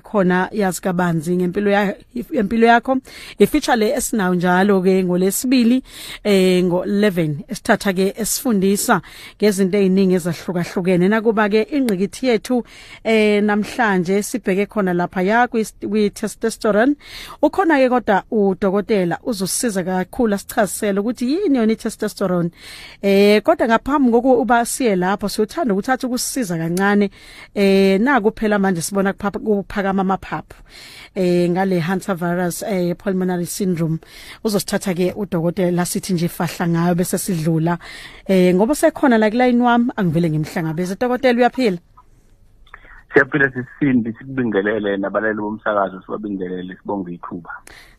khona yazi kabanzi ngempilo ya impilo yakho ifeature le esinayo njalo ke ngolesibili eh ngo11 esithatha ke esifundisa ngezinto eziningi ezahlukahlukene nakuba ke ingqikithi yethu eh namhlanje sibheke khona lapha ya kwi testosterone ukhona ke kodwa udokotela uzosiza kakhulu asichazisele ukuthi yini yona testosterone eh kodwa ngaphambi kokuba siye lapho siyothanda ukuthatha ukusiza kancane eh naku phela manje sibona kuphakama amaphaphu eh ngale Hunter virus eh pulmonary syndrome uzosithatha ke udokotela la sithi nje fahla ngayo bese sidlula eh ngoba sekhona la kulayini wami angivele ngimhlangabeze dokotela uyaphila Siyaphila sisindi sikubingelele nabalali bomsakazo sibabingelele sibonge ithuba.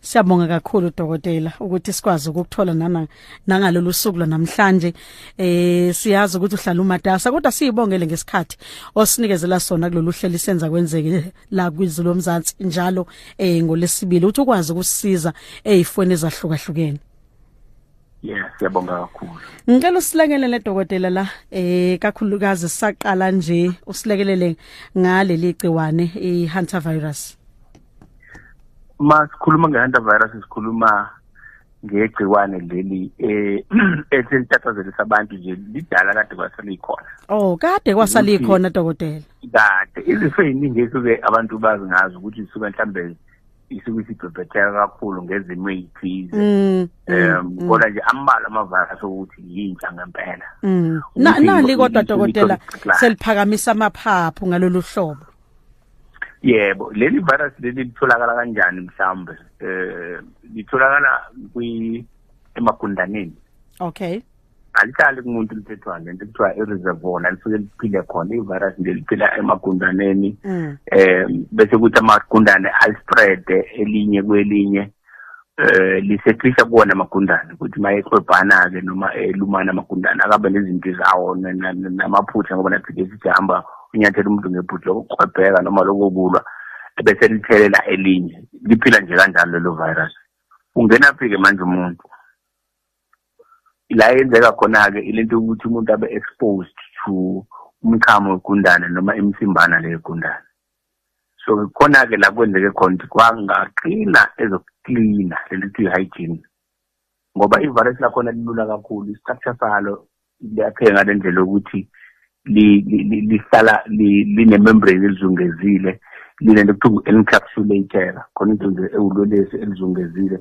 Siyabonga kakhulu dokotela ukuthi sikwazi ukuthola nana nangalolu suku lwanamhlanje eh siyazi ukuthi uhlala umatasa kodwa siyibongele ngesikhathi osinikezela sona kulolu hlelo senza kwenzeke la kwizulu lomzansi njalo eh ngolesibili uthi ukwazi ukusiza ezifweni eh, ezahlukahlukene Yeah, siyabonga kakhulu. Ngicela usilekelele dokotela la eh kakhulukazi saqala nje usilekelele ngaleli gciwane iHunter virus. uma sikhuluma nge-hantavirus sikhuluma ngegciwane leli eh eselitathazela abantu nje lidala kade kwasalikhona oh kade kwasalikhona dokotela kade izifo eziningi esuke abantu bazi ngazo ukuthi isuke mhlambe isuke isibhebhetheka kakhulu ngezimo ezithize mm, mm, um mm. kodwa nje ambalwa amavirus ukuthi yintsha ngempela nali kodwa dokotela seliphakamisa amaphaphu ngalolu hlobo yebo leli virus leli litholakala kanjani mhlawumbe eh litholakala kwi emagundaneni okay alihlali kumuntu lithethwane lento kuthiwa i-reservoir nalisuke liphile khona i-virus nje liphila emagundaneni um bese kuthi amagundane alispreade elinye kwelinye eh lisehlisa kuwona amagundane ukuthi mayeqwebhana-ke noma elumana amagundane akabe nezinto zawo namaphutha ngoba nathi ke sijihamba unyathela umuntu ngebhuti lokuqwebheka noma lokokulwa ebese lithelela elinye liphila nje kanjalo lelo virus ungena phi-ke manje umuntu la yenzeka khona-ke ilento yokuthi umuntu abe exposed to umchamo wegundane noma imsimbana leyegundane so khona-ke la kwenzeke khona ukuthi kwangaqina ezokuklina leli kuthiwa i-hygiene ngoba ivirus lakhona lilula kakhulu i-structure salo liyapheka ngale ndlela yokuthi lihlala linemembrane elizungezile linento kuthiwa ngu-encapsulator khona into nje ewulolesi elizungezile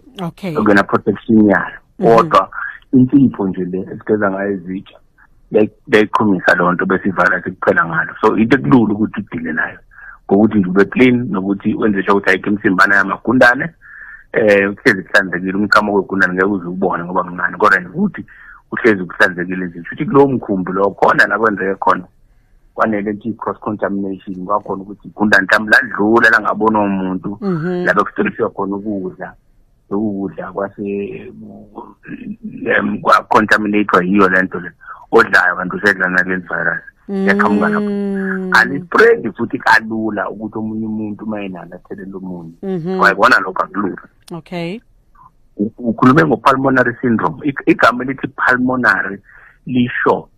okuyena protection yalo mhm. kodwa insipho nje le esigeza ngayo izitsha beyiqhumisa leyo nto besivala sikuphela ngalo so into ekulula ukuthi udile nayo ngokuthi nje ube clean nokuthi wenze sho ukuthi ayikho imsimbana yamagundane eh uhlezi kuhlanzekile umchamo kwegundane ngeke uze ubone ngoba mncane kodwa nje ukuthi uhlezi kuhlanzekile nje futhi kulowo mkhumbi lowo khona la kwenzeke khona kwanele nje cross contamination kwakhona ukuthi igundane mhlawumbe ladlula langabona umuntu mhm. labe kustoliswa khona ukudla ukudla kwase kwa-contaminatwa yiyo le nto le odlayo kanti usedla naleli virus yaqhamuka mm. lapho alispread futhi kalula ukuthi omunye umuntu uma enalo athelele omunye mhm. wayibona lokho akulula okay ukhulume ngo-pulmonary syndrome igama elithi pulmonary lisho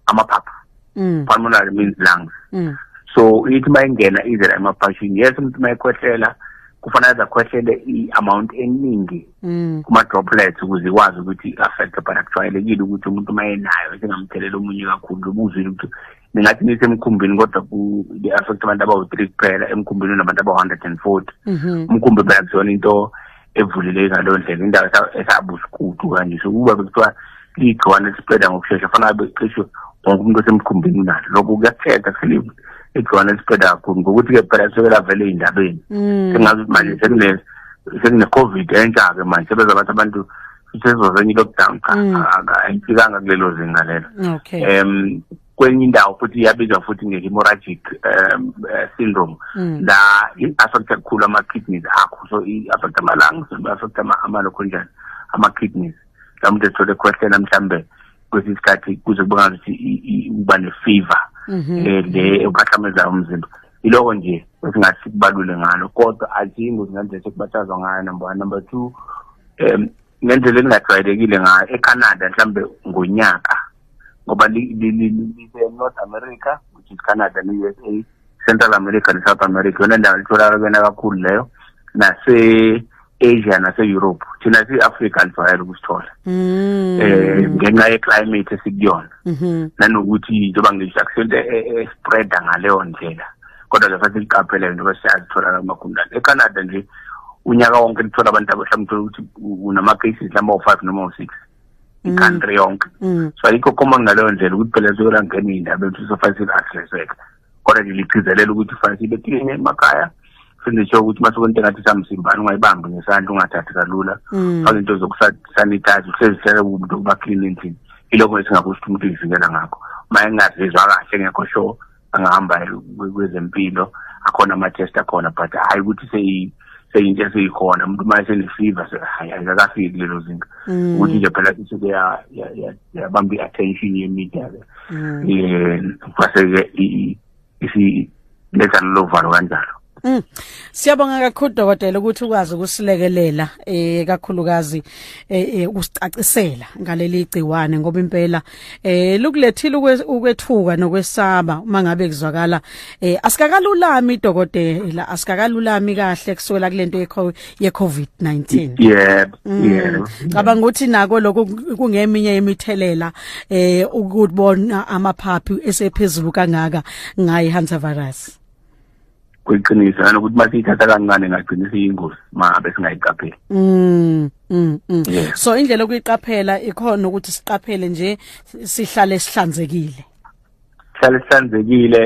amaphaphu mm. pulmonary means lungs mm. so ithi uma ingena izela emaphashini yes umuntu uma ekhwehlela kufanele aze akhwehlele i-amount eningi mm. kuma-droplets ukuze ikwazi ukuthi i-affecte but akujwayelekile ukuthi umuntu uma enayo singamthelela omunye kakhulu ubuzwile ukuthi ningathi nisemkhumbini kodwa ku-affect abantu abawu-three kuphela emkhumbini unabantu abawu-hundred and forty mhm. umkhumbi phela kuzona into evuleleki ngaleyo ndlela indawo esabusikudu kanje so kuba bekuthiwa liyigciwane lispreda ngokushesha fanele becishe wonke umuntu osemkhumbini unalo lokho kuyathetha kuselivule igciwane lispreda kakhulu ngokuthi-ke phela suke lavele ey'ndabeni mm. sengazi ukuthi manje sekune-covid entsha-ke manje sebeza bathi abantu sisezwa kwenye i-lockdown cha mm. ayifikanga kulelo zinga lelo um kwenye indawo futhi iyabizwa futhi nge-hemorrhagic um eh, syndrome mm. la i-affecta kukhulu ama-kidneys akho so i-affecta ama-lungs i-affecta amalokho njani ama-kidneys la muntu ethole ekhwehlela mhlawumbe kwesinye isikhathi kuze kubonakala ukuthi uba ne-fever um le ebahlamezayo umzimba yiloko nje esingathi sikubalule ngalo kodwa aziyi ngozi ngendlela sekubathazwa ngayo number one number two um ngendlela elingajwayelekile ngayo ecanada mhlawumbe ngonyaka ngoba lise-north america which is canada ne-u s a central america ne-south america yona ndawo litholakala kuyona kakhulu leyo nase Asia nase Europe thina si Africa sivayela ukusithola mm. eh ngenxa ye climate esikuyona mm-hmm. nanokuthi njengoba ngisho akusento e, e, e spreader ngaleyo ndlela kodwa ke futhi liqaphele into besiyazithola la magundane eCanada nje unyaka wonke lithola abantu abahlamuthe ukuthi unama cases lama u5 noma u6 mm. country yonke mm. so ayikho common ngaleyo ndlela ukuthi phela siyolangena indaba ethu sofa silahleseka kodwa ke ligcizelela ukuthi fanele sibe clean emakhaya sindisho ukuthi masuke into engathi samsimbani ungayibambi ngesandla ungathathi kalula mm. fake into zokusanitize usezihlele umuntu ukuba clean endlini ilokho esingakusho ukuthi umuntu uyivikela ngakho uma engazizwa kahle ngekho sure angahamba kwezempilo akhona ama-test akhona but hhayi ukuthi seyinto esiyikhona umuntu uma esenefever hhayi akakafiki kulelo zinga mm. ukuthi nje phela sisuke yabamba i-attention ye-media ke um kwase-ke isiletha lolo valo kanjalo Mm. Siyabonga kakhulu dokotela ukuthi ukwazi ukusilekelela eh kakhulukazi eh, eh usicacisela ngaleli gciwane ngoba impela eh lukulethile ukwethuka nokwesaba uma ngabe kuzwakala eh asikakalulami dokotela asikakalulami kahle kusukela kulento yeCovid-19 yebo mm. yebo cabanga ukuthi nako lokho kungeminye yemithelela eh ukubona amaphaphi esephezulu kangaka ngayi Hansa virus kuyiqiniso nanokuthi masiyithatha kancane ngagcina siyingozi mabe singayiqapheli mm, mm, mm. Yeah. so indlela okuyiqaphela ikhona ukuthi siqaphele nje sihlale sihlanzekile sihlale sihlanzekile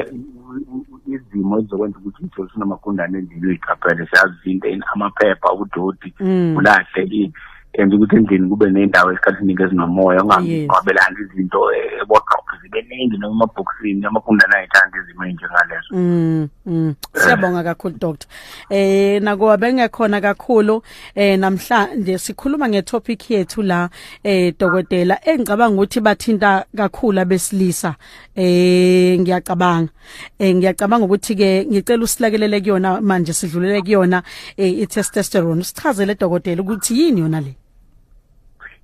izimo ezizokwenza ukuthi umthole sinamagundane endlini uyiqaphele siyazi into amaphepha ubudodi mm. ulahle yenza ukuthi endlini kube nendawo esikhathini ezinomoya ungangqwabelani izinto eboxoxo eh, zibe ningi noma emabhokisini amagundane ayithanda izimo ey'njengalezo mm, mm. siyabonga kakhulu doctor um nakuba bengekhona kakhulu eh namhlanje sikhuluma ngetopic yethu la eh dokotela engicabanga ukuthi bathinta kakhulu abesilisa eh ngiyacabanga eh ngiyacabanga ukuthi ke ngicela usilakelele kuyona manje sidlulele kuyona eh, i-testosterone sichazele dokotela ukuthi yini yona le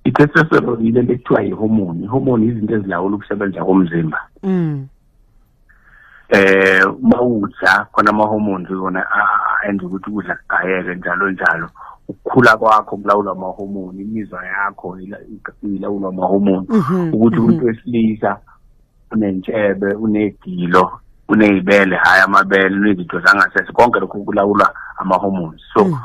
i-testosterone yile lekuthiwa i-hormone i-hormone izinto ezilawula ukusebenza komzimba mm eh mawudla khona ama hormones wona enza ukuthi ukudla kugayeke njalo njalo ukukhula kwakho kulawula ama hormone imizwa yakho ilawula ama hormone mhm, ukuthi mhm. umuntu wesilisa unentshebe unegilo unezibele hayi amabele unezinto zangasese konke lokhu kulawulwa ama hormones so mm.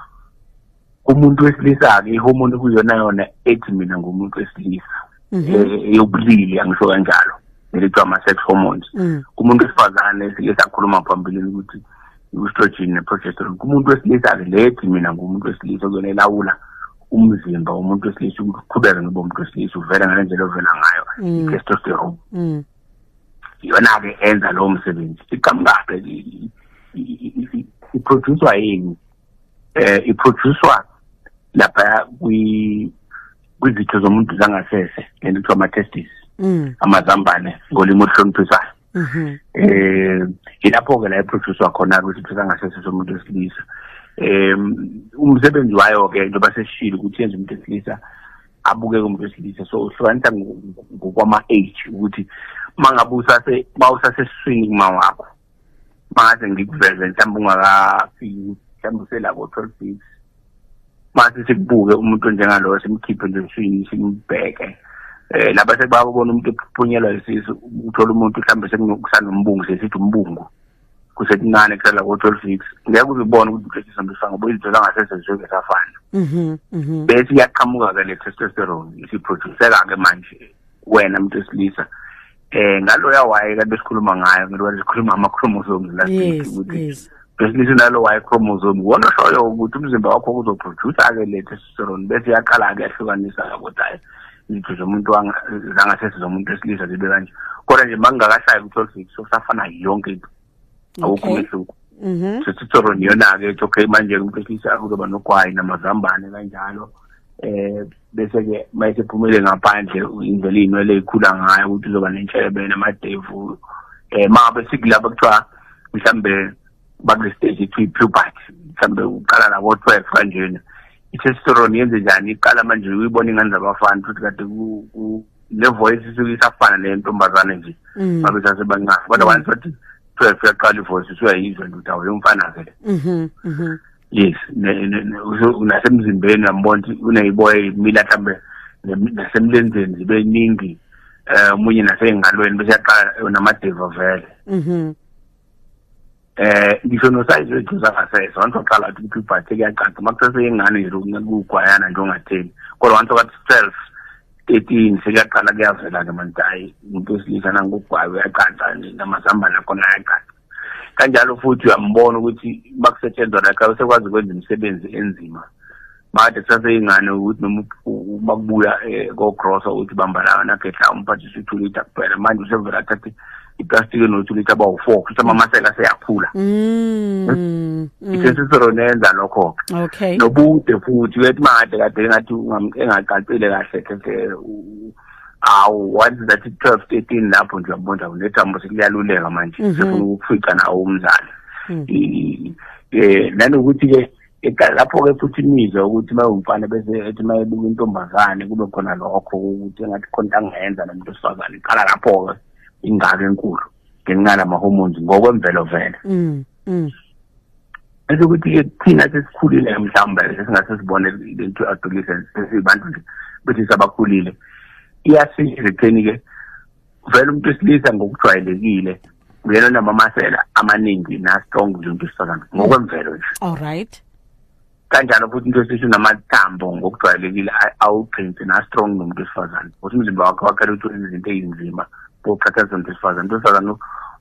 umuntu wesilisa-ke ihomoni kuyona yona ethi mina ngumuntu wesilisa mhm. eh, eyobulili angisho kanjalo nelithiwa ama-sex hormones mm. kumuntu wesifazane esilisa akhuluma phambilini ukuthi i-estrogen ne-progesterone kumuntu wesilisa-ke lethi mina ngumuntu wesilisa kuyona elawula umzimba womuntu wesilisa ukuqhubeka ngibe umuntu wesilisa uvela ngale ndlela ovela ngayo mm. i-testosterone mm. iyona-ke enza lowo msebenzi iqhamukaphe iproducwa yini eh iphroducwa lapha kwi kwizitho zomuntu zangasese lento kuthiwa ama-testis mm. amazambane ngolimi oluhloniphisayo mm-hmm. eh ilapho-ke la iphroducwa khona-ke isitho sangasese somuntu wesilisa um umsebenzi wayo-ke into baseshile ukuthi yenza umuntu wesilisa abukeke umuntu wesilisa so uhlukanisa ngokwama-age ukuthi uma ngabe usase uma usasesiswini kuma wakho mase ngikuveze mhlawumbe ungakafiki mhlawumbe uselabo twelve weeks mase sikubuke umuntu onjengaloyo simkhiphe nje usini simbheke um eh, laba sekubabona umuntu ephuphunyelwa isisu uthola umuntu mhlawumbe sekusanombungu sesithi umbungu kusekuncane kusala ko-twelve weeks ngeke uzibone ukuthi uhlehliswa mbifa ngoba uyizithola ngasese zisuke safana mhm, mhm. bese iyaqhamuka-ke le testosterone isiproduceka-ke manje wena muntu wesilisa eh ngaloya waye kanti besikhuluma ngayo ngilwa sikhuluma ama chromosomes last week ukuthi besilisa nalo waye chromosome wona shoyo ukuthi umzimba wakho uzoproduce ke le testosterone bese yaqala ke yahlukanisa ukuthi hayi izitho zomuntu zangasese zomuntu wesilisa zibe kanje kodwa nje makungakashayi ukuthi olfix usafana yonke into awukho umehluko mhm sesithoro niyona ke ethi okay manje umphehlisha kuzoba nogwayi namazambane kanjalo eh bese ke mayise phumele ngaphandle indlela inwele ikhula ngayo ukuthi uzoba nenhlebe namadevu eh mabe sikulapha kuthiwa mhlambe bakule stage ithi puberty mhlambe uqala la ko 12 kanjena ithestosterone yenze njani iqala manje uyibona ingane zabafana futhi kade ku le voice isuke isafana neyentombazane nje mm. babe sasebancane kodwa mm. once wathi twelve uyaqala ivoice usuyayizwa ndoda weyomfana-ke le mhm, mhm. yes nasemzimbeni uyambona ukuthi uneyiboya imila mhlawumbe nasemlenzeni zibe ningi um omunye nasey'ngalweni bese yaqala namadeva vele mhm. eh ngisho nosayizi wegcuza ngasese wanto qala ukuthi ukuthi ubhathe kuyacaca makusese yengane nje ukugwayana nje ongatheni kodwa wanto kathi 12 13 sekuyaqala kuyavela ke manje hayi umuntu wesilisa nangokugwayo uyacaca nje namazambane akhona ayacaca kanjalo futhi uyambona ukuthi bakusetshenzwa la xa usekwazi ukwenza imisebenzi enzima bathi kusaseyingane ukuthi noma bakubuya um eh, kogrosa ukuthi bambalanga nagedla umphathisa i-two litre kuphela manje usevele athathe iplastiki enothi lithi abawu-four kusho amamasela aseyakhula mm, hmm? mm. isesiseronenza lokho-ke okay nobude futhi uyethi made kade engathi engaqaqile kahle keke awu once that twelve thirteen lapho nje uyabona unethambo sekuliyaluleka manje mhm. sefuna ukufica nawo umzali um nanokuthi-ke eqala lapho-ke futhi imizwe ukuthi mayewumfana bese ethi mayebuka intombazane kube khona lokho ukuthi engathi khona into angayenza nomuntu wesifazane iqala lapho-ke ingaka enkulu ngenxa nama-hormones ngokwemvelo vele mm, mm. bese ukuthi-ke thina sesikhulile mhlawumbe sesingase sibone into adolescent sesibantu nje bethi sabakhulile iyasiza ekutheni-ke vele umuntu wesilisa ngokujwayelekile uyena onamamasela amaningi na-strong nje umuntu wesifazane ngokwemvelo nje all right kanjalo futhi into esithi unamathambo ngokujwayelekile awuqinsi na-strong nomuntu wesifazane ukuthi umzimba wakhe wakhela ukuthi wenza izinto ezinzima boqhathanisa nomuntu wesifazane umuntu wesifazane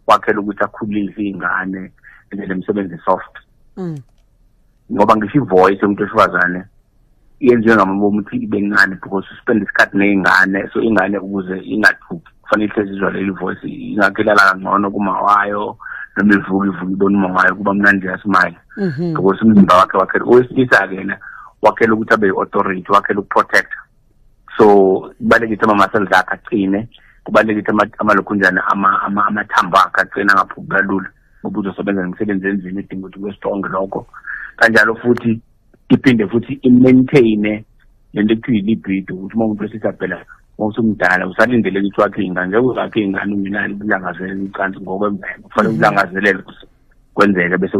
wakhela ukuthi akhulise iy'ngane enzele imisebenzi soft mm. ngoba ngisho ivoice yomuntu wesifazane yenziwe ngamama ukuthi ibe ncane because spend isikhathi ney'ngane so ingane ukuze ingathuki kufanele ihlezi izwa leli voice ingakhe ilala kangcono kuma wayo noma ivuka ivuka ibona uma wayo kuba mnandi yasimile mhm. because umzimba wakhe wakhela owesilisa-ke yena wakhela ukuthi abe yi-authority wakhela ukuprotecta so kubalulekile ukuthi ama-muscles akhe aqine kubalulekile ukuthi amalokhunjana amathambo akhe aqine angaphuki kalula ngoba uzosebenza nemisebenzi enzima edinga ukuthi kube strong lokho kanjalo futhi iphinde futhi i-maintaine le nto ekuthiwa i-libido ukuthi uma umuntu wesisa phela uma usumdala usalindele ukuthi wakhe ingane ngeke uzakhe ingane ungenalo ukulangazelela ucansi ngokwemvelo kufanele mhm. ukulangazelele kwenzeke bese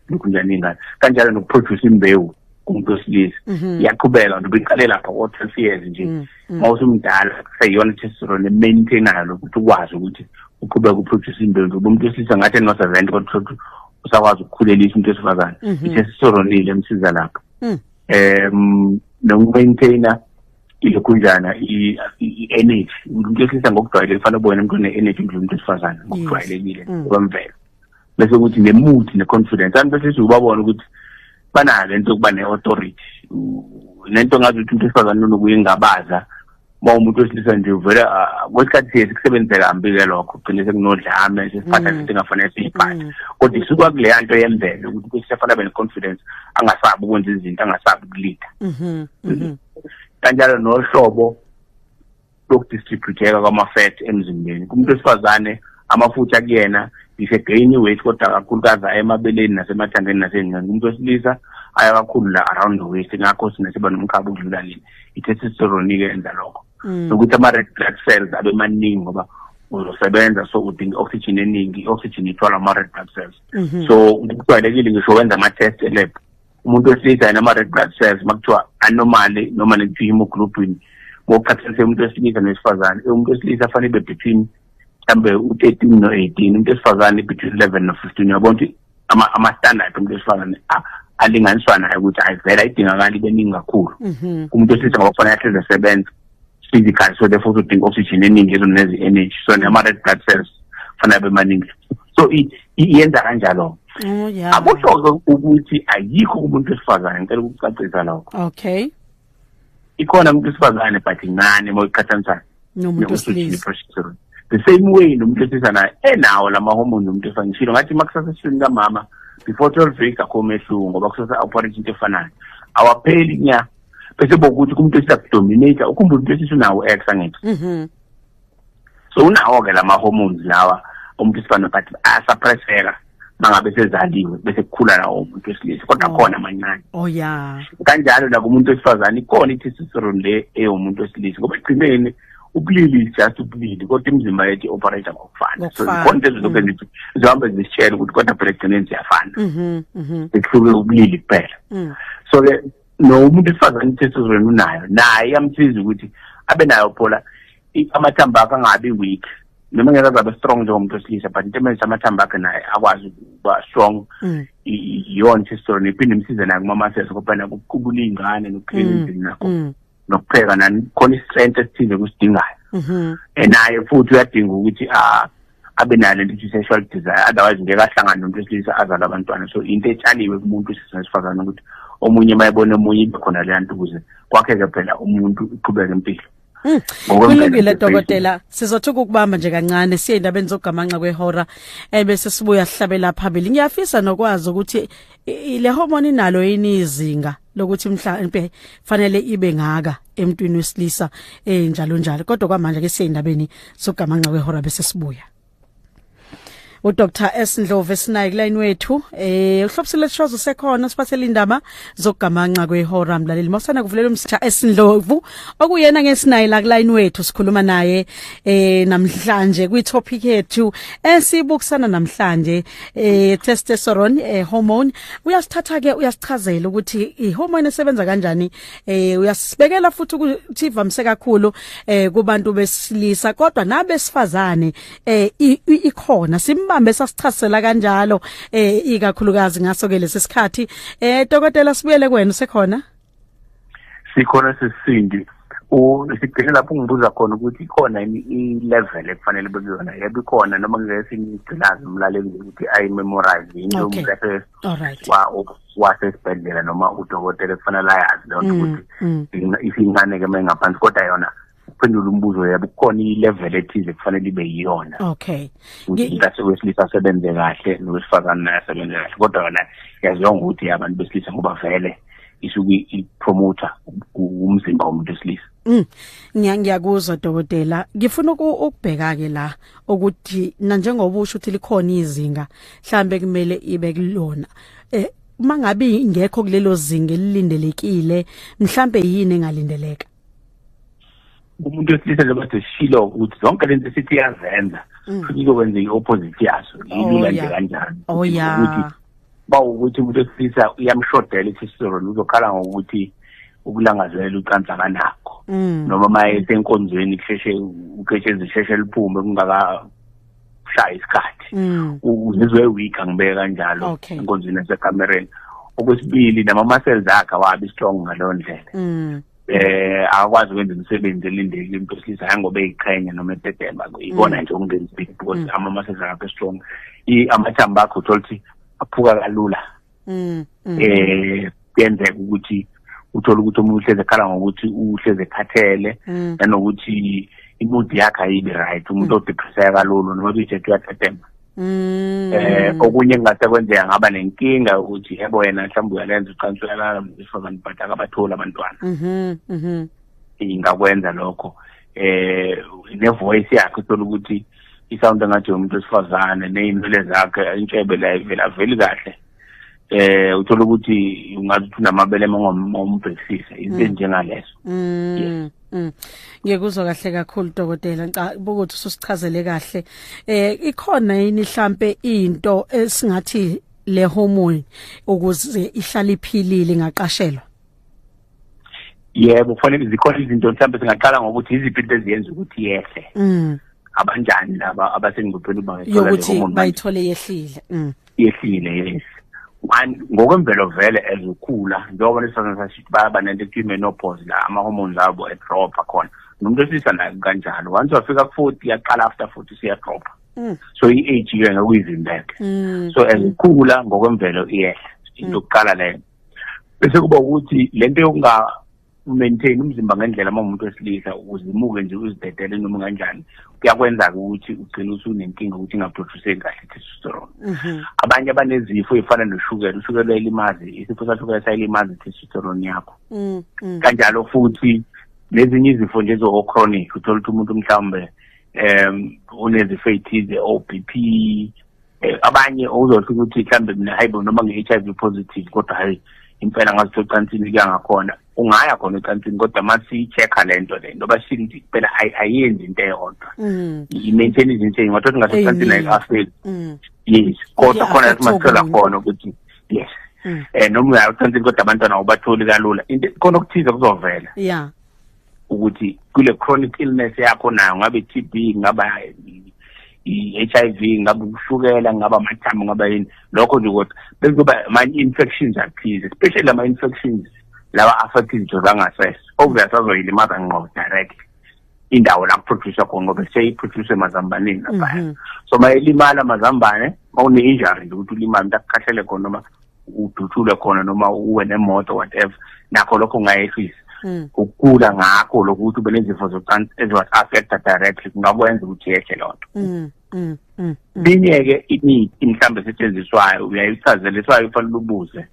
lukhunjana ingane kanjalo nokuproduce imbewu kumuntu wesilisa mhm. iyaqhubeka nto biqale lapha ko-twelve years nje mm, mm. uma usumdala kuseyiyona testosterone emaintainayo lokhu ukuthi ukwazi ukuthi uqhubeka uproduce imbewu ngoba umuntu wesilisa ngathi enoseventy kodwa utholukuthi usakwazi ukukhulelisa umuntu wesifazane mhm. isestoronile emsiza lapho mm. um nokumaintaina ilokhunjana i-energy umuntu wesilisa ngokujwayelekile kufanele ubone umuntu one-energy mdlula umuntu wesifazane ngokujwayelekile kwemvelo bese kuthi ne-mood ne-confidence anti bese siwubabona ukuthi banayo le nto yokuba ne-authority nento ngazi ukuthi umuntu wesifazane nonokuye ngabaza uma umuntu wesilisa nje uvele ah, kwesikhathi siye sikusebenzise kambi-ke lokho kugcine sekunodlame sesiphatha mm. singafanele siyiphathe mm. kodwa isuka kuleya nto yemvelo ukuthi kusefanele abe ne-confidence angasabi ukwenza izinto angasabi ukulida mm-hmm, mm-hmm. kanjalo nohlobo lokudistributeka kwama-fat emzimbeni kumuntu wesifazane amafutha kuyena ise-gain i-weight kodwa kakhulukazi aya emabeleni nasemathandeni nasencane kumuntu wesilisa aya kakhulu la around the waist ngakho sina siba nomkhaba ukudlula leni i-testosterone-ke yenza lokho mm. nokuthi ama-red blood cells abe maningi ngoba uzosebenza so udinga i-oxygen eningi i-oxygen ithwala ama-red blood cells mhm. so kujwayelekile ngisho wenza ama-test elab umuntu wesilisa yena ama-red blood cells uma kuthiwa anormally noma nekuthiwa hemoglobin ngokuqhathanise umuntu wesilisa nowesifazane umuntu wesilisa afanele ibe between mhlawumbe u-thirteen no-eighteen umuntu wesifazane between eleven no-fifteen uyabona ukuthi ama-standard umuntu wesifazane alinganiswa nayo ukuthi ayivele ayidingakali ibe ningi kakhulu mhm. umuntu wesilisa ngoba kufanele ahleze esebenza physically so therefore udinga oxygen eningi ezweni nezi energy so nema red blood cells fanele abe maningi so iyenza kanjalo oh, akusho-ke ukuthi ayikho kumuntu wesifazane ngicela ukucacisa lokho okay ikhona umuntu wesifazane but incane uma uyiqhathanisa nomuntu wesilisa the same way nomuntu wesilisa naye enawo la mahormone nomuntu wesifazane ngishilo ngathi uma kusasa esiswini kamama before twelve weeks akho umehluko ngoba kusasa operate into efanayo awapheli nya bese bokuthi kumuntu esiyakudominate ukhumbula umuntu esisunawo ex angithi mhm. so unawo ke lama hormones lawa umuntu isifana but asuppresseka mangabe sezaliwe bese kukhula lawo umuntu wesilisa kodwa oh. khona amancane oh yeah kanjalo la kumuntu wesifazane ikona i-testosterone le eyomuntu wesilisa ngoba ekugcineni ubulili is just ubulili kodwa imizimba yethu i-operate ngokufana so zikhona lezo zonke mm. zithi zihambe zisitshela ukuthi kodwa phela ekugcineni ziyafana zihluke mm-hmm, mm-hmm. ubulili kuphela mm. so-ke no umuntu esifazane isesizweni unayo naye iyamsiza ukuthi abe nayo phola amathambo akhe angabi weak noma ngeke azabe strong njengomuntu wesilisa but into emenza amathambo akhe naye akwazi ukuba strong mm. iyona testosterone iphinde imsize naye kumama sese kodwa nakuqubula iy'ngane nokukhela mm. endlini nakho mm. nokupheka nani khona istrength esithile kusidingayo mhm. eh, naye futhi uyadinga ukuthi ah, abe nayo lento ukuthi sexual desire otherwise ngeke ahlangane nomuntu wesilisa azala abantwana so into etshaliwe kumuntu isizwe esifazane ukuthi omunye uma ebona omunye ibe khona leya nto ukuze kwakheke phela umuntu uqhubeke impilo hmm. kulungile dokotela sizothuka ukubamba nje kancane siye endabeni zokugamanxa kwehora ebese eh, sibuya sihlabela phambili ngiyafisa nokwazi ukuthi le hormone inalo yini izinga lokuthi mhlambe fanele ibe ngaka emntwini wesilisa eh njalo njalo kodwa kwamanje ke siyindabeni sogamanxa kwehora bese sibuya u Dr S Ndlovu esinayi kulayini wethu eh uhlobisile shozo sekhona siphathele indaba zokugamanxa kwehora mlaleli mosana kuvulela umsitha S Ndlovu okuyena ngesinayi la kulayini wethu sikhuluma naye eh namhlanje kwi topic yethu esibukusana namhlanje eh testosterone eh hormone uyasithatha ke uyasichazela ukuthi ihormone esebenza kanjani eh uyasibekela futhi ukuthi ivamise kakhulu eh kubantu besilisa kodwa nabesifazane eh ikhona simbambe sasichazela kanjalo eh ikakhulukazi ngaso ke lesikhathi eh dokotela sibuyele kwena sekhona sikhona sisindi sigcine lapho ungibuza khona ukuthi ikhona yini i-level ekufanele bekuyona yebo ikhona noma ngesinigcinazi umlaleli ukuthi ayimemorize yini umqephesi wasesibhedlela noma udokotela ekufanele ayazi leyo nto mm, ukuthi mm. isincane-ke uma ingaphansi kodwa yona ukuphendula umbuzo yabo kukhona i-level ethile kufanele ibe yiyona okay umntathi wesilisa asebenze kahle nowesifazane naye asebenze kahle kodwa yona yaziwa ngokuthi abantu besilisa ngoba vele isuke ipromoter umzimba womuntu wesilisa mm. ngiyakuzwa dokotela ngifuna ukubheka ke la ukuthi na njengoba usho ukuthi likhona izinga mhlambe kumele ibe kulona eh mangabe ingekho kulelo zinga elilindelekile mhlambe yini engalindeleka umuntu wesilisa njengoba sesishilo ukuthi zonke lento sithi iyazenza mm. futhi izokwenzeka i-opposite yaso yilula oh, nje kanjani oh, ukuthi bawukuthi umuntu wesilisa uyamshodela isisoroni uzokhala ngokuthi ukulangazelela ucansi akanakho mm. noma uma esenkonzweni kusheshe uketshezi sheshe liphume kungaka shaya isikhathi mm. ngizwe weak angibeke kanjalo okay. enkonzweni yasekamereni okwesibili nama-muscles akhe awabi strong ngaleyo ndlela mm. eh akwazi ukwenza imisebenzi elindele into esilisa hangoba eyiqhenya noma etetema ikona mm. nje okungenzi big because mm. ama-muscles akhe strong amathambo akhe utholukuthi aphuka kalula mm, mm. eh kuyenzeka ukuthi uthola ukuthi omunye uhlezi ekhala ngokuthi uhlezi ekhathele mm. nanokuthi imood yakhe ayibi right umuntu mm. odepresseka kalulu noma biyithethe uyathethemba mm. eh okunye kungase kwenzeka ngaba nenkinga yokuthi yebo yena mhlawumbe uyalenza uqansa uyalala mfazane but akabatholi abantwana mm-hmm, mm-hmm. ingakwenza lokho eh ne-voice yakhe uthola ukuthi i-sound engathi umuntu wesifazane ney'nwele zakhe intshebe la ivela veli kahle eh uthola ukuthi ungathi unamabele ngombhekisise into mm. njengaleso mm, mm. ngiyekuzwa kahle kakhulu dokotela ngicabanga ukuthi ususichazele kahle eh ikhona yini mhlambe into esingathi le hormone ukuze ihlale iphilile ingaqashelwa yebo kufanele zikhona izinto mhlawumbe singaqala ngokuthi yiziphi into eziyenza ukuthi yehle mm. abanjani laba abasengcupheni uba yokuthi bayithole yehlile mm. yehlile yes one ngokwemvelo vele ezokhula njengoba lesifazane sashithi bayaba nento ekuthiwa i-menopause la ama-hormones abo edropha khona nomuntu wesilisa naye kanjalo once wafika ku-forty yaqala after forty siyadropha mm. so i-age ke ngekuyivimbeke mm. so ezikhula ngokwemvelo iyehla into yokuqala leyo bese kuba ukuthi lento yokunga maintain umzimba ngendlela uma umuntu wesilisa uzimuke nje uzidedele noma kanjani kuyakwenza-ke ukuthi ugcine usunenkinga ukuthi ingaproduceki kahle testosterone mhm. abanye abanezifo ey'fana noshukela ushukela uyayilimazi isifo sashukela sayilimazi testosterone yakho mm, mm. kanjalo futhi nezinye izifo nje zo-chronic uthole ukuthi umuntu mhlawumbe um unezifo ey'thize o-b p Eh, abanye uzothu ukuthi mhlambe mina hayibo noma nge-HIV positive kodwa hayi impela ngathi ocansini kuyangakhona ungaya khona ocansini kodwa masiyi-check-a le nto le nto bashile ukuthi phela ayenzi into eyodwa mm. i-maintain izinto eyingathi othi ngathi ocansini ayikafeli mm. yes kodwa khona yathi masithola khona ukuthi yes um noma uyaya ocansini kodwa abantwana awubatholi kalula khona okuthize kuzovela ya ukuthi kule chronic illness yakho nayo ngabe TB ngaba i-HIV ngaba ushukela ngaba amathambo ngaba yini lokho nje kodwa bekuzoba ama-infections athize especially ama-infections lawa affect izinto zangasese obvious azoyilimaza ngqo direct indawo la kuproducer khona ngoba seyiproduce mazambaneni laphaya mhm. so mayelimala mazambane mawune-injury nje ukuthi ulimale umntu akukhahlele khona noma udutshulwe khona noma uwe nemoto whatever nakho lokho ungayehlisa hmm. ukukula ngakho lokuthi ube nezifo zocansi eziwa-affecta directly kungakwenza ukuthi yehle loo nto hmm, hmm, linye-ke imithi mhlawumbe esetshenziswayo uyayichazeliswayo ufanele ubuze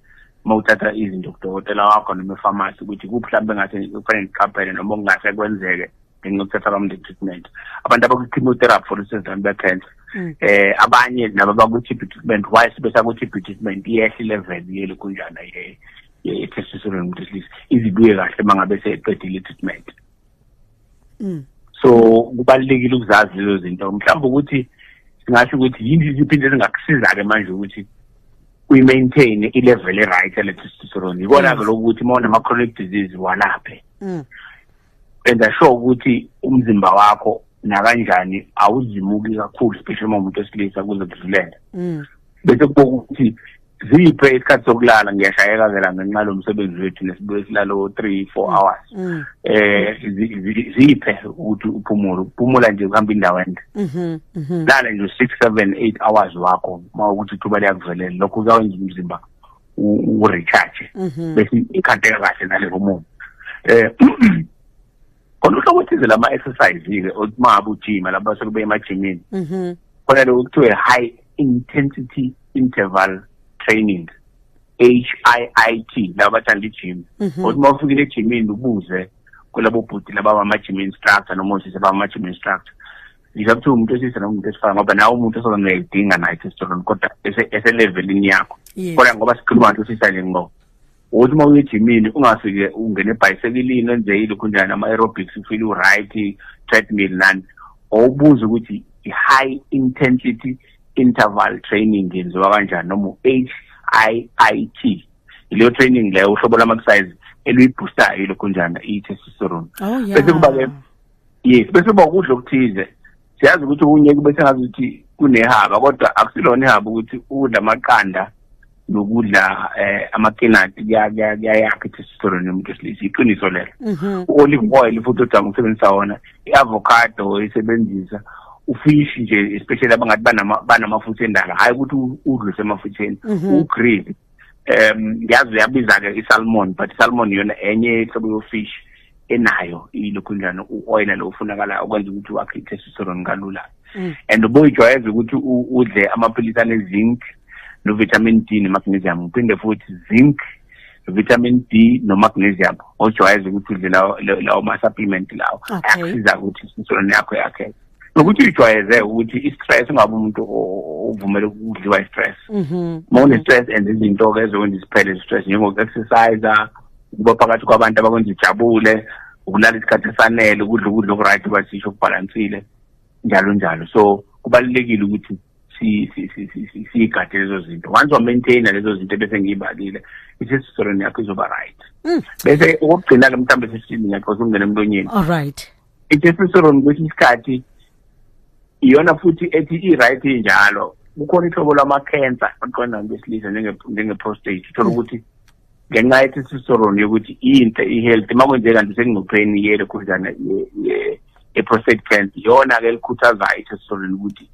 uma uthatha izinto kudokotela wakho noma efamasi ukuthi kuphi mhlawumbe engathi kufanele ndiqaphele noma okungase kwenzeke ngenxa yokuthatha abamnde treatment abantu abakwi-chemotherapy for instance abantu be-cancer um mm. eh, abanye nabo bakwi-tb treatment why sebesakwi-tb treatment iyehla ilevel yeli kunjana ye-testosterone yomuntu wesilisa izibuye kahle uma ngabe seqedile i-treatment mm. so kubalulekile ukuzazi lezo zinto mhlawumbe ukuthi singasho ukuthi yini iziphi into ezingakusiza-ke manje ukuthi uyi-maintain i-level e-right yale-testosterone yikona-ke mm. lokuthi uma unama-chronic disease walaphe enza sure ukuthi umzimba wakho nakanjani awuzimuki kakhulu especially uma umuntu wesilisa kuze kudlulele mm. bese kuboka ukuthi ziphe isikhathi sokulala ngiyashayeka ke la ngenxa lo msebenzi wethu nesibuye silala o-three four mm. hours mm. eh ziphe ukuthi uphumule ukuphumula nje kuhamba indawo ende mm-hmm, mm-hmm. lala nje u-six seven eight hours wakho uma ukuthi ithuba liyakuvelela lokho kuyawenza umzimba urecharge mhm. bese ikhandeka kahle nale hormone eh khona uhlobo thize lama exercise ke uma abujima laba sekube emajimini mhm. khona lokho kuthiwe high intensity interval training HIIT laba bathanda ijim mhm. kodwa uma ufikile ejimini ubuze kulabo bhuti laba bamajim instructor noma usise bamajim instructor ngisho kuthiwa umuntu wesilisa noma umuntu wesifana ngoba nawe umuntu osoke ngiyayidinga naye testosterone kodwa eselevelini yakho kodwa ngoba sikhuluma ngathi usisa le ngoba ukuthi uma uyejimini ungafike ungene ebhayisekilini wenze ilokhu njani ama-aerobics ufile u-right treadmill nani owubuza ukuthi i-high intensity interval training yenziwa kanjani noma u-h i i t ileyo training leyo uhlobo lama-exercise eluyibhustayo lokhu njani i-testosterone oh, bese kuba-ke yes bese uba ukudla okuthize siyazi ukuthi okunye kube sengazi ukuthi kunehaba kodwa akusilona ihaba ukuthi ukudla amaqanda nokudla eh amakinati kuyayakha i-testosterone yomuntu wesilisa iqiniso lelo mhm. u-olive oil futhi odanga ukusebenzisa wona i-avocado oyisebenzisa ufish nje especially abangathi banamafutha endala hhayi ukuthi udluse emafutheni mhm. ugrill mm -hmm. um yazi uyabiza-ke isalmon but isalmon yona enye hlobo yofish enayo ilokhu njani u-oyila lo ufunakalayo okwenza ukuthi wakhe i-testosterone kalula mm. and ubuyijwayeza ukuthi udle amaphilisi ane-zinc no-vitamin d ne-magnesium uphinde futhi zinc vitamin d nomagnesium ojwayeza ukuthi udle lawo ma-supplement lawo ayakusiza ukuthi insulin yakho yakheke nokuthi uyijwayeze ukuthi i-stress ungabe umuntu ovumele ukudliwa i-stress mhm. uma une-stress and izinto-ke ezokwenza isiphele i-stress njengoku-exercise ukuba phakathi kwabantu abakwenza ujabule ukulala isikhathi esanele ukudla ukudla oku-right basisho okubhalansile njalo njalo so kubalulekile ukuthi siyigade lezo zinto once wamaintaina lezo zinto bese ngiyibalile isistoren yakho izoba right mm. bese okokugcina-ke mhlawumbe sesitini ngiyaqosa ukungena emlonyeni all right itestosterone kwesinye isikhathi iyona futhi ethi i-right injalo kukhona ihlobo lama-cancer aqondana kwesilisa njenge-prostate uthole mm. ukuthi ngenxa ye-testosterone yokuthi inhle i-healthy uma kwenzeka kanti sekungcupheni yelo khuzana ye-prostate cancer iyona-ke elikhuthazayo i-testosterone ukuthi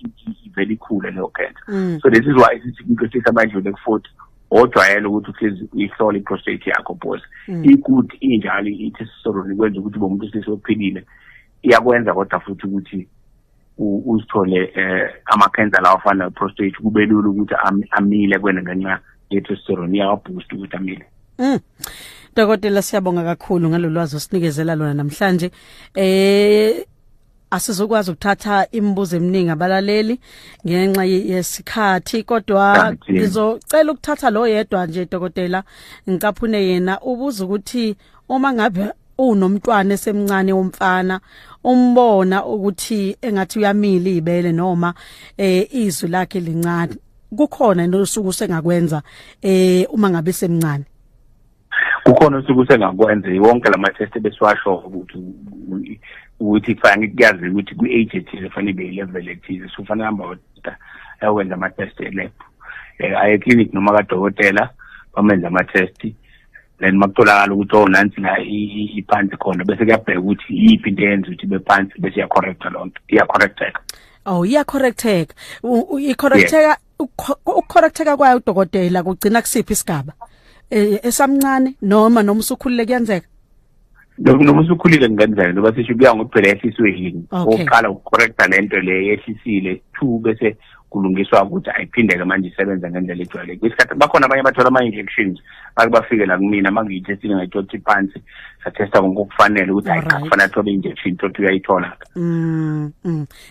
ivele ikhule leyo cancer mm. so this is why sithi kumqehlisa amadlule ku-forty ojwayele ukuthi uhlezi uyihlole i-prostate yakho bos mm. ikuthi injalo i-testosterone ikwenza ukuthi ube umuntu ohlezi ophilile iyakwenza kodwa futhi ukuthi uzithole um ama-cancer lawa afana ne-prostate kube lula ukuthi amile kwena ngenxa ye-testosterone iyawaboosta ukuthi amile mm. Dokotela siyabonga kakhulu ngalolwazi osinikezela lona namhlanje eh asizokwazi ukuthatha imibuzo eminingi abalaleli ngenxa yesikhathi kodwa ngizocela ukuthatha lo yedwa nje dokotela ngicaphune yena ubuza ukuthi uma ngabe unomntwana esemncane womfana umbona ukuthi engathi uyamila ibele noma eh izwi lakhe lincane kukhona into osuku sengakwenza eh uma ngabe semncane kukhona usuku sengakwenza wonke la ma-test ebesiwasho ukuthi ukuthi kufanele kuyazi ukuthi kwi-age ethize kufanele ibe yi-level ethize so kufanele hamba oda ayokwenza ama-test elab um eh, aye clinic noma kadokotela bamenze ama-test then makutholakala ukuthi o oh, nansi la iphansi khona bese kuyabheka ukuthi yiphi into eyenza ukuthi ibe phansi bese iyacorrecta loo nto iyacorrecteka Oh iya correcteka. I correcteka ukucorrecteka kwayo udokotela kugcina kusiphi isigaba e, esamncane noma noma usukhulile kuyenzeka noma usukhulile kungenzeka noma sisho kuya ngokuphela esiswehini oqala ukucorrecta lento le yehlisile two bese kulungiswa ukuthi ayiphindeke manje isebenze ngendlela ejwayelekile isikhathi bakhona abanye bathola ama-injections bake bafike la kumina uma ngiyithestile ngayithothi phansi sathesta konke okufanele ukuthi hayi cha kufanele athole i-injection thothi uyayithola-ke mm, mm.